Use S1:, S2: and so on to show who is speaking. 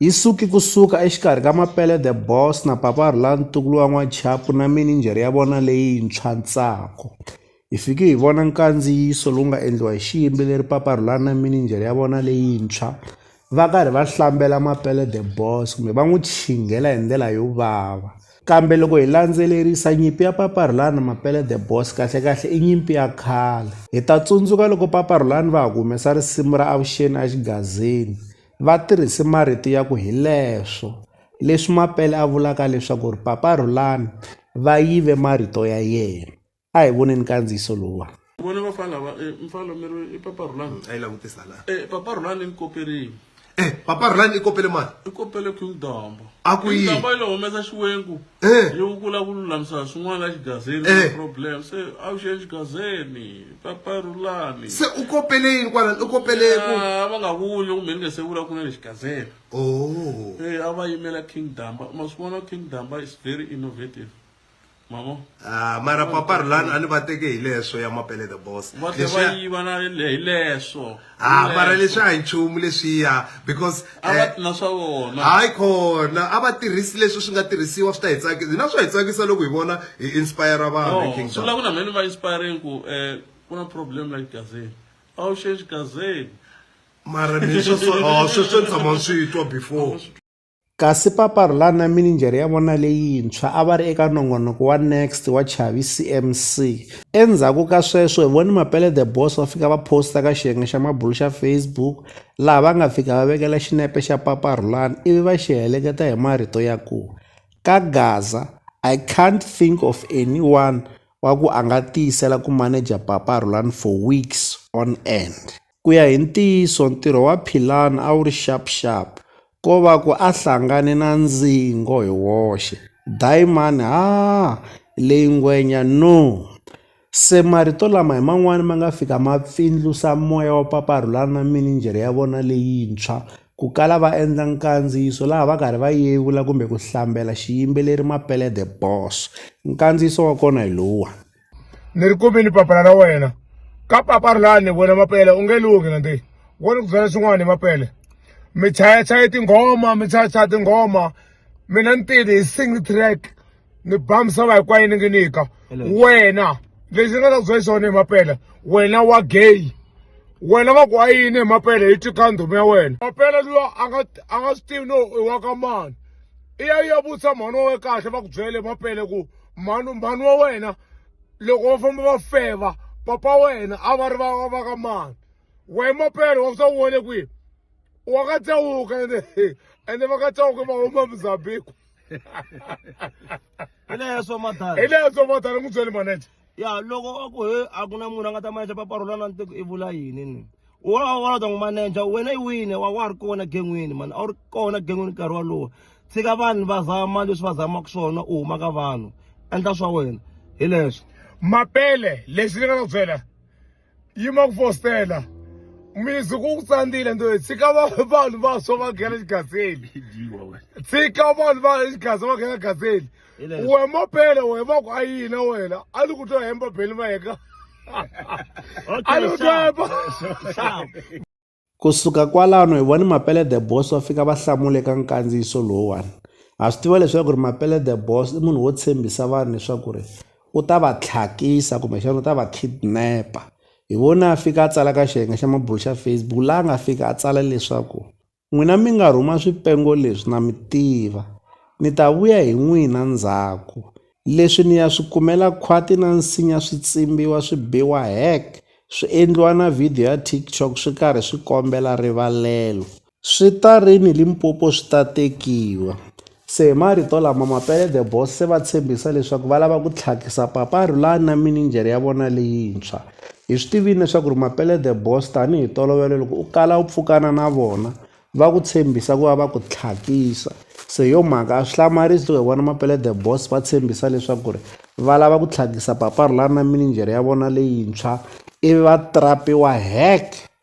S1: Yi suke ku suka exikarhi ka Mapele the Boss na Papa Rhula Ntukulu wa N'wachapu na mininjhere ya vona leyintshwa Ntsako. Hi fike hi vona nkandziyiso lowu nga endliwa hi xiyimbi leri Papa Rhula na mininjhere ya vona leyintshwa va karhi va hlambela Mapele the Boss kumbe va n'wi chinghela hi ndlela yo vava. Kambe loko hi landzelerisa nyimpi ya Papa Rhula na Mapele the Boss kahlekahle i nyimpi ya khale. Hi ta tsundzuka loko Papa Rhula va ha ku humesa risimu ra Avuxeni Axigazini Va tirhise marito ya ku hileswo leswi Mapele a vulaka leswaku ri Papa Rhulani va yive marito ya yena. A hi voneni nkandziyiso lowuwani. Vona vafana lava
S2: eh, mfana mi ri i papa Rhulani mm, a yi langutisa la eh,
S3: papa Rhulani ni
S2: koperini eh, papa Rhulani
S3: i kopele mani i kopele King
S2: Dombo a ku yi Dombo
S3: ile humesa
S2: xiwengu eh, yi ku la ku lulamisa swin'wana la xigazeni eh. problem se a wu xeni xigazeni papa rulami se u kopele yini
S3: kwalani u kopele ku Ah, va nga vuli
S2: kumbe ni nge se vula ku na lexi gazela oh Eh, a va yimela king damba ma swi vona king damba is very innovative mamo Ah, mara
S3: papa rulani a ni va teke hi leswo ya mapele the boss va tlhe va Leswiya- yiva na
S2: le- hi leswo ha mara leswi
S3: a hi nchumu leswiya because eh, na swa
S2: vona hayi khona
S3: a va tirhisi leswi swi nga tirhisiwa swi ta hi tsakisa hina swa hi tsakisa loko hi vona hi inspire vanhu king swi vula ku na mhani va inspiring
S2: ku um ku na problem like gazeni a wu xexi gazeni mara
S3: ni sweswo oh, sweswo ni tshama ni swi twa before Kasi
S1: Papa Rhulani na mininjhere ya vona leyintshwa a va ri eka nongonoko wa Next wa Chavi CMC. Endzhaku ka sweswo hi vone Mapele The Boss va fika va posta ka xiyenge xa mabulo xa Facebook laha va nga fika va vekela xinepe xa Papa Rhulani ivi va xi heleketa hi marito ya ku, Ka Gaza, I can't think of anyone wa ku a nga tiyisela ku maneja Papa Rhulani for weeks on end. Ku ya hi ntiyiso, ntirho wa Philan a wu ri sharp-sharp, ko va ku a hlangane na ndzingo hi woxe, dayimani haa, leyi ngwenya noo! Se marito lama hi man'wana ma nga fika ma pfindlusa moya wa Papa Rhulani na mininjhere ya vona leyintshwa, ku kala va endla nkandziyiso laha va karhi va yevula kumbe ku hlambela xiyimbeleri Mapele The Boss. Nkandziyiso wa kona hi lowuwani. ni ri
S4: kumini papala ra wena ka papa ri laha ni vona mapele u nge lunghi na nti wo ni ku byela swin'wana hi mapele mi chayachaye tinghoma mi chayachaya tinghoma mina ni tile hi single track ni ba misava hinkwayo ni ngi nyika wena lexi ni nga ta ku byela xona hi mapele wena wa gay wena va ku a yini hi mapele yi twi ka ndhumi ya wena mapele luya a nga a nga swi tivi no i wa ka mani i ya yi ya vutisa mhani wa we kahle va ku byele mapele ku mhani mhani wa wena loko va famba va feva papa wena a va ri va va ka mani wehe mapele wa ku swa wone kwihi wa ka tsawuka ende ende va ka tsawuka va huma mozambique
S5: hi leya swa madala hi leya swa madala
S4: n'wi byeli manager ya loko a
S5: ku he a ku na munhu a nga ta maneja paparula na ntiko i vula yini ni wa wa ta n'wi maneja wena i wini wa wa ri kona gen'wini mani a wu ri kona gen'wini nkarhi walowo tshika vanhu va zama leswi va zamaka swona u huma ka vanhu endla swa wena hi leswo mapele
S4: lexi ni nga na byela yima ku fostela mizi ku ku tsandzile nto tshika va- vanhu va swo va nghena xigaseni tshika vanhu va xigaza va nghena gaseni we mopele we va ku a yina wena a ni ku to hemba beli va heka a ni ku to hemba
S1: kusuka kwalano hi voni mapele the boss va fika va hlamule ka nkandziyiso lowuwani ha swi tiva leswaku ri mapele the boss i munhu wo tshembisa vanhu leswaku ri u ta va tlhakisa kumbexana u ta va kidnapper hi vona a fika a tsala ka xiyenge xa mabulu xa facebook laha nga fika a tsala leswaku N'wina mi nga rhuma swipengo leswi na mi tiva, ni ta vuya hi n'wina ndzhaku. Leswi ni ya swi kumela khwati na nsinya swi tsimbiwa swi biwa hek, swi endliwa na video ya TikTok swi karhi swi kombela rivalelo. Swi ta ri ni Limpopo swi ta tekiwa. Se hi marito lama, Mapele The Boss se va tshembisa leswaku va lava ku tlhakisa Papa Rhulani na mininjhere ya vona leyintshwa. Hi swi tivile leswaku ri Mapele The Boss tanihi tolovelo loko u kala u pfukana na vona va ku tshembisa ku va va ku tlhakisa. Se hi yo mhaka a swi hlamarisi loko hi vona Mapele The Boss va tshembisa leswaku ri va lava ku tlhakisa Papa Rhulani na mininjhere ya vona leyintshwa ivi va trapiwa heck!